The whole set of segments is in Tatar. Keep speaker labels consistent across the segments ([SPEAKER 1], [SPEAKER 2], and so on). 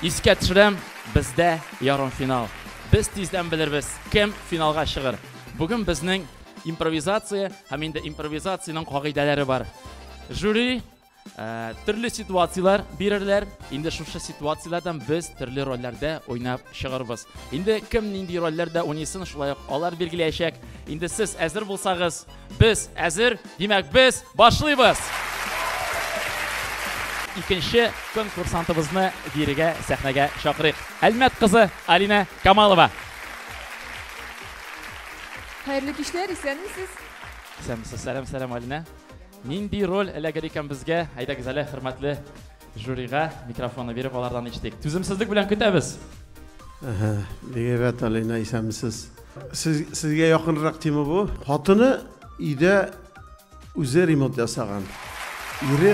[SPEAKER 1] Искә төшерәм, бездә ярымфинал. Без тиздән белербез, кем финалга чыгыр. Бүген безнең импровизация һәм инде импровизациянең кагыйдәләре бар. Жюри төрле ситуацияләр бирерләр. Инде шушы ситуацияләрдән без төрле рольләрдә уйнап чыгарбыз. Инде кем нинди рольләрдә уйныйсын, шулай ук алар билгеләячәк. Инде сез әзер булсагыз, Без әзер, димәк без башлыйбыз! Икенче конкурсантыбызны бирегә сәхнәгә чакырыйк. Әлмәт кызы Алина Камалова.
[SPEAKER 2] Хәерле кичләр, исәнмесез? Исәнмесез,
[SPEAKER 1] сәлам, сәлам, Алина. Нинди роль эләгер икән безгә? Әйдәгез әле, хөрмәтле Жюрига микрофонны биреп, алардан ишетик. Түземсезлек белән көтәбез. Бигәбәт
[SPEAKER 3] Алина, исәнмесез. Сез, сезгә якынрак тема бу. Хатыны өйдә үзе ремонт ясаган. Ире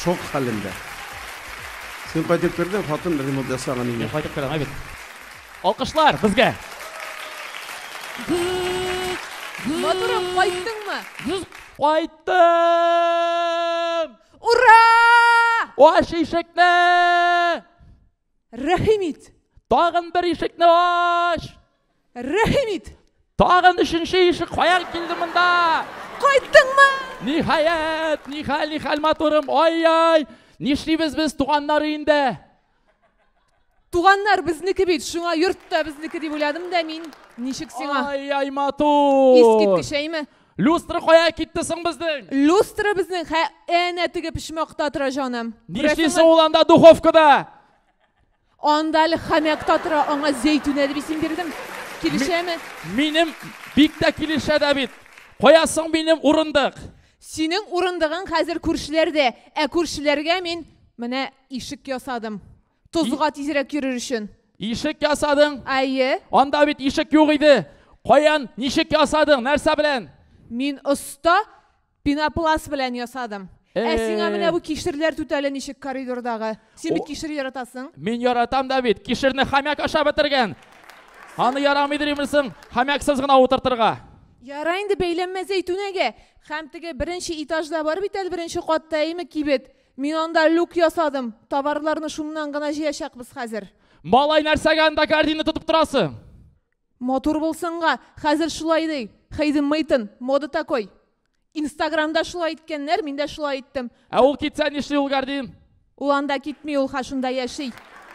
[SPEAKER 3] шок хәлендә. Син кайтып кердең, хатын ремонт ясаган инде. Мин кайтып керәм, әйбәт.
[SPEAKER 1] Алкышлар безгә.
[SPEAKER 2] Матурым, кайттыңмы? Кайттым!
[SPEAKER 1] Ура! Аш ишекне!
[SPEAKER 2] Рәхим ит! Тагын бер
[SPEAKER 1] ишекне аш! Рәхим
[SPEAKER 2] ит! Тагын
[SPEAKER 1] өченче ишек каян килде монда? Кайттыңмы?
[SPEAKER 2] Ниһаять, нихәл, нихәл
[SPEAKER 1] матурым, ай-яй! Нишлибез без туганнар инде? Туганнар
[SPEAKER 2] безнеке бит, шуңа йорт та безнеке дип уйладым да мин. Ничек сиңа? Ай-яй, матур!
[SPEAKER 1] Искиткеч, әйме?
[SPEAKER 2] Люстра кая
[SPEAKER 1] китте соң безнең? Люстра безнең хә
[SPEAKER 2] әнә теге почмакта тора, җаным. Нишлисең ул анда
[SPEAKER 1] духовкада?
[SPEAKER 2] Анда әле хәмәк та тора, аңа зәйтүнә дип исем бирдем. Килешәме? Минем
[SPEAKER 1] бик тә килешә дә бит. Кая соң минем урындык? Синең
[SPEAKER 2] урындыгың хәзер күршеләрдә, ә күршеләргә мин менә Ишек ясадым. Тозга тизрәк йөрер өчен. Ишек ясадың?
[SPEAKER 1] Әйе. Анда
[SPEAKER 2] бит ишек
[SPEAKER 1] юк иде. Каян, ничек ясадың? Нәрсә белән? Мин оста
[SPEAKER 2] пенопласт белән ясадым. Ә сиңа менә бу кишерләр түтәле ничек коридордагы? Син бит кишер яратасың. Мин яратам да бит.
[SPEAKER 1] Кишерне хомяк ашап бетергән. Аны ярамый димерсең, хомяксыз гына утыртырга. Яра инде
[SPEAKER 2] бәйләнмә зәйтүнәгә. Һәм теге беренче этажда бар бит әле беренче катта, әйме, кибет. Мин анда люк ясадым. Товарларны шуннан гына җыячакбыз хәзер. Малай, нәрсәгә
[SPEAKER 1] анда кәрдинне тотып торасы? Матур
[SPEAKER 2] булсынга, хәзер шулай ди. Хейден Мейтон, мода такой. Инстаграмда шулай иткәннәр, мин дә шулай иттем. Ә ул китсә нишли
[SPEAKER 1] ул кәрдин? Ул анда китми,
[SPEAKER 2] ул ха шунда яши.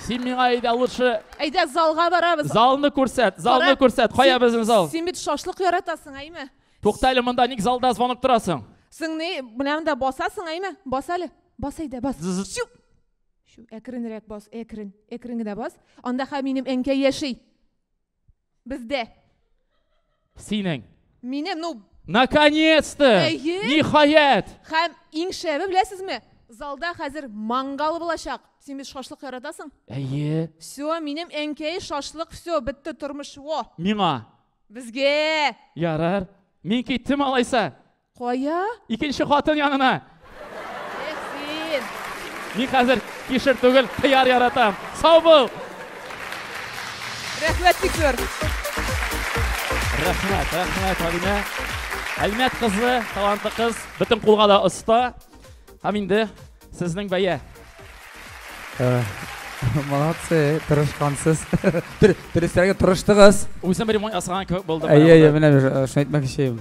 [SPEAKER 2] Син миңа
[SPEAKER 1] әйдә лучше. Әйдә залга
[SPEAKER 2] барабыз. Залны күрсәт,
[SPEAKER 1] залны Кара, күрсәт. Кая син- безнең зал? Син бит шашлык
[SPEAKER 2] яратасың, әйме? Тукта әле монда, ник
[SPEAKER 1] залда звонок торасың? Сың ни, менә
[SPEAKER 2] монда басасың, әйме? Бас әле. Бас әйдә, бас. Чү. Чү, әкренрәк бас, әкрен. Әкрен генә бас. Анда ха минем әнкәй яши. Бездә.
[SPEAKER 1] Синең. Минем,
[SPEAKER 2] ну, Наконец-то!
[SPEAKER 1] Әйе. Ниһаять! Хәм иң
[SPEAKER 2] шәбе беләсезме? Залда хәзер мангал булачак. Син бит шашлык яратасың? Әйе. Все,
[SPEAKER 1] минем
[SPEAKER 2] әнкәй шашлык, все, бетте тормыш. Во. Миңа
[SPEAKER 1] Безгә!
[SPEAKER 2] Ярар.
[SPEAKER 1] Мин киттем алайса. Кая?
[SPEAKER 2] Икенче хатын
[SPEAKER 1] янына. Эх,
[SPEAKER 2] син. Мин
[SPEAKER 1] хәзер кишер түгел, кыяр яратам. Сау бул!
[SPEAKER 2] Рәхмәт бик зур.
[SPEAKER 1] Рәхмәт, рәхмәт, Алинә. Әлмәт кызы, талантлы кыз, бөтен кулга да оста. Һәм инде Сезнең бәя.
[SPEAKER 4] Молодцы, тырышкансыз. Дөресрәге тырыштыгыз. Үзем бер мой асраган
[SPEAKER 1] кебек булдым. Әйе, әйе, менә шуны
[SPEAKER 4] әйтмәкче идем.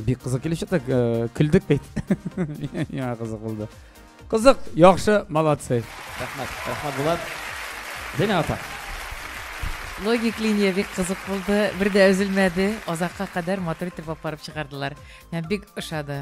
[SPEAKER 4] Бик кызык килеш чыктык, көлдек бит. Миңа кызык булды. Кызык, яхшы, молодцы. Рәхмәт, рәхмәт
[SPEAKER 1] Булат. Зина апа.
[SPEAKER 5] Логик линия бик кызык булды. Бер дә өзелмәде. Азакка кадәр матур итеп апарып чыгардылар. Мә бик ошады.